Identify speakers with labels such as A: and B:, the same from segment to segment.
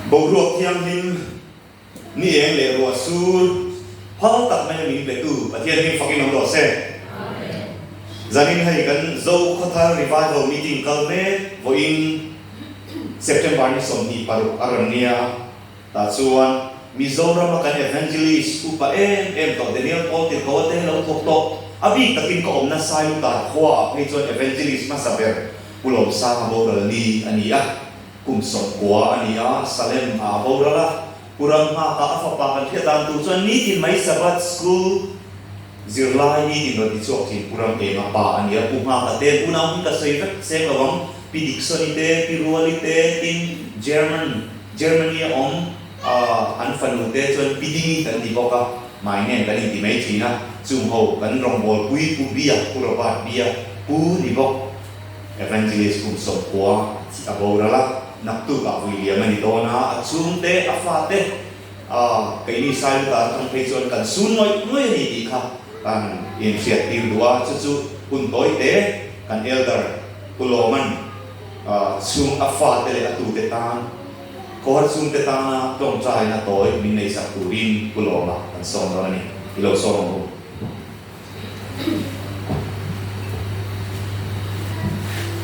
A: Boruak thianghlim ni eng leh ruah sur har tak mai a min petu Pathian hming fakin awm rawh se. Zanin hei kan Zokhathar Revival Meeting kal mek vawiin September ni sawmhnih paruk a rawn nia. Tah chuan Mizorama kan Evangelist upa em em tawh Daniel Paul Tirkaua te lo thawk tawh a bik takin ka awm nasa lu tar khua ah phei chuan Evangelist hmasa ber Pulawmsanga boral ni a ni a, kum sawm kua a ni a, Salem a a boral a, Kuramhngaka a fapa kan hriat dan tur chuan nitin mai Sabbath School, Zirlai i tih nawlh tichuak thin Pu Ramtenga pa a nia. Pu Nghaka te hunah hun ka sawi vek seng lo vang. Pi Diksawni te, Pi Ruali te, tin German, Germany a awm ah an fanu te chuan Pi Dingi kan ti bawk a, hmai ngen kan inti mai thin a, chung ho kan rawngbawlpui Pu Bia, Pu Robert Bia, Pu ni bawk. Evangelist Kum Sawmkua a boral a, naktuk ah vui liam a ni dawn a, a chhungte a fate, A, keini Sailu dan atang phei chuan kan su nuaih nuaih a ni tih kha kan inhriat tir duh a, chu chu hun tawite kan Elder Pu Lawman chhung a fate leh a tute tan khawhar chhungte tana tlawmtlain a tawi min nei sak turin Pu Lawma kan sawm dawn a ni. I lo sawm ang u.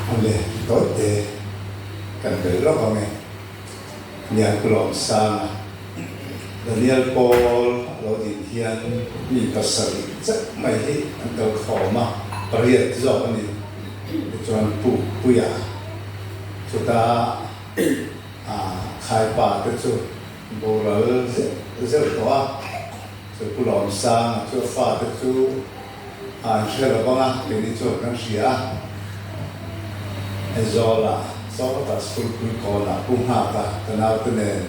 B: Hun leh tawite kan bel rawh ang e. Lian Kulawm Sanga Daniel Paul a lo din hian mi pasarih zet mai hi an kal khawm a, pariat zawk a ni. Tichuan Pu Puia chuta Khaipa te chu boral zeuh zeuh tawh a, chu Kulawm Sanga chu a fate chu Ai hria lo vang a, keini chuan kan hria a. Aizawl-a, Sawngkata School pui kawnah pu nghaka ka naute nen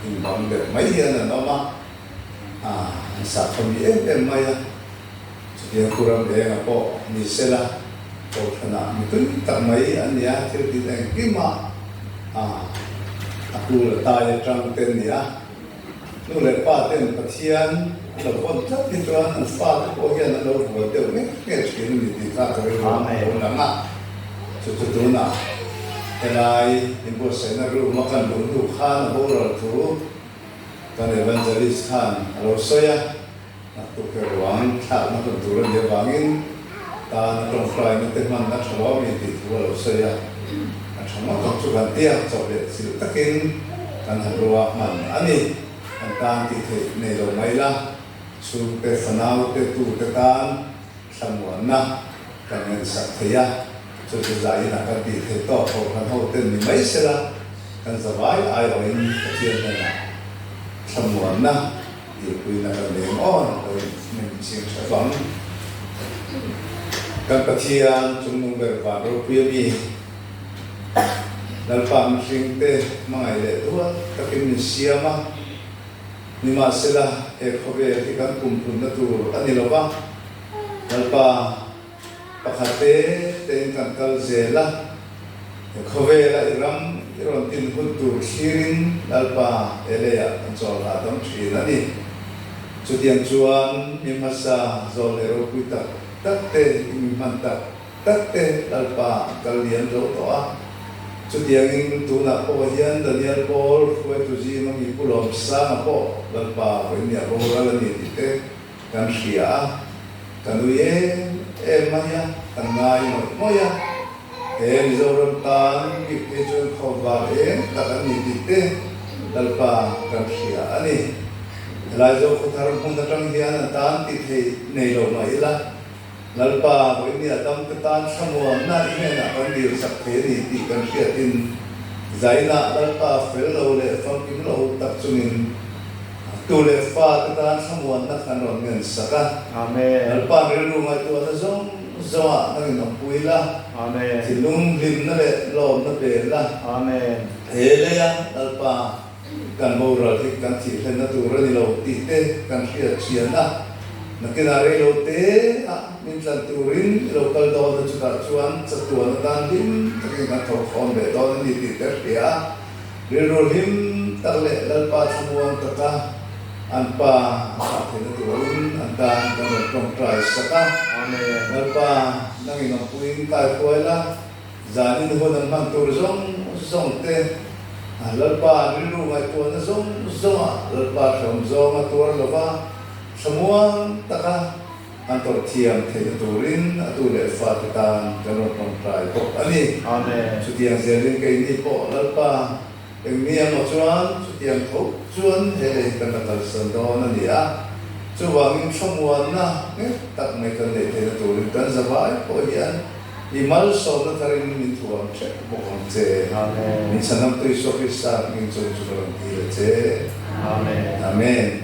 B: inbang deuh mai hi an rawn awm a, ah an sakhaw mi em em mai a. Chutiang thu ram enga pawh ni sela, Kohhranah mitui tak mai an ni a, thil inengkim a, ah a kul a tai atang te an ni a. Nu leh pa ten Pathian an lo vawn tlat hi chuan an fa te pawh hian an lo bual deuh ngek ngek thin a ni tih kha ka rilruahna a lo lang a. Chuti tunah helai i buatsaihna room a kan luh hnu khan a boral thu kan Evangelist khan a lo sawi a. A tukverh ruang thlakna hun tur a nih avangin tana tawngfraina te hman a tha lo a mi tih thu a lo sawi a. A tha ngawt ang chu kan tia chawh leh chilh takin kan han rua hman a ni. An tan tih theih nei lo mai la, chhungte, fanaute, tute tan thlamuanna kan ngaihsak thei a, chuti zain a kan tih theih tawk kho kan hoten ni mai se la, kan zavai aiawhin Pathian hnenah thlamuanna, Lirpui na kan leh maw ang pawh in hming in siam tha fang. Kan Pathian chungnung ber van ropui ami lalpa mihring te hmangaih leh dual takin min siam a, nimahsela he khawvel hi kan pumpunna tur a ni lo va, lalpa. Pakhat te tein kan kal zel a, he khawvela i ram i rawn tinhut tur thlirin Lalpa Elei ah kan chawl ta tam thin a ni. Chutiang chuan mi hmasa zawlhne ropui tak tak te i mi hman tak tak te Lalpa an kal lian zo tawh a. Chutiangin tunah pawh hian Daniel Paul, Hruaitu Zima mi pu lawmsanga pawh Lalpa vawiin ni a boral a ni tih te, Kan hria a, ka nui em em mai a, ka ngai mawih mawih a. He Mizoram tan bik hi chu kho var em tak an ni tih te Lalpa kan hria a ni. Helai zawk khaw thar hmun atang hian a tan tih theih nei lo mah ila. Lalpa Vawinia damte tan thlangawnna i hnenah kan dir chak thei a ni tih kan hriatin zainah Lalpa fel lo leh famkim lo uk tak chungin tu leh fate tan thlangawnna kan rawn ngen sak a. Lalpa'n rilru ngaihtuahna zawng zawngah kan inawm pui la, thinlung hlimna leh lawmna pe la. He leia Lalpa. kan moral hi kan thil hlen na tur a ni lo tih te kan hriat thian a, nakinah rei lo te a min tlan tur in i lo kal dawn a chutah chuan chatuan atan hlim tak in kan thawh fawn ve dawn a ni tih te a hria a, rilru hlim tak leh Lalpa thlamuan tak a an pa a thlah theih na tur in an tan kan rawn tawngtai sak a, Lalpa nang in awmpuiin kai huai la. Zan inhawn an hman tur zawng zawng te, Lalpa an rilru ngaihtuahna zawng zawngah Lalpa hlawm zawng a tuar lova thlamuang taka an tawrh thiam theihna turin a tu leh fate tan kan rawn tawngtai bawk a ni. Amen. Chutiang
A: zianin kei
B: ni pawh Lalpa eng ni emaw chuan chutiang tho chuan he lei hi kan la kalsan dawn a ni a, chuvangin thlamuanna nghet tak mai kan neih theihna turin kan zavai pawh hian, I malsawmna thar in i thu ang ṭhek bawk ang che. Min Sanamtui Isua Krista hming chung chu ka rawn ti
A: ve
B: che. Amen.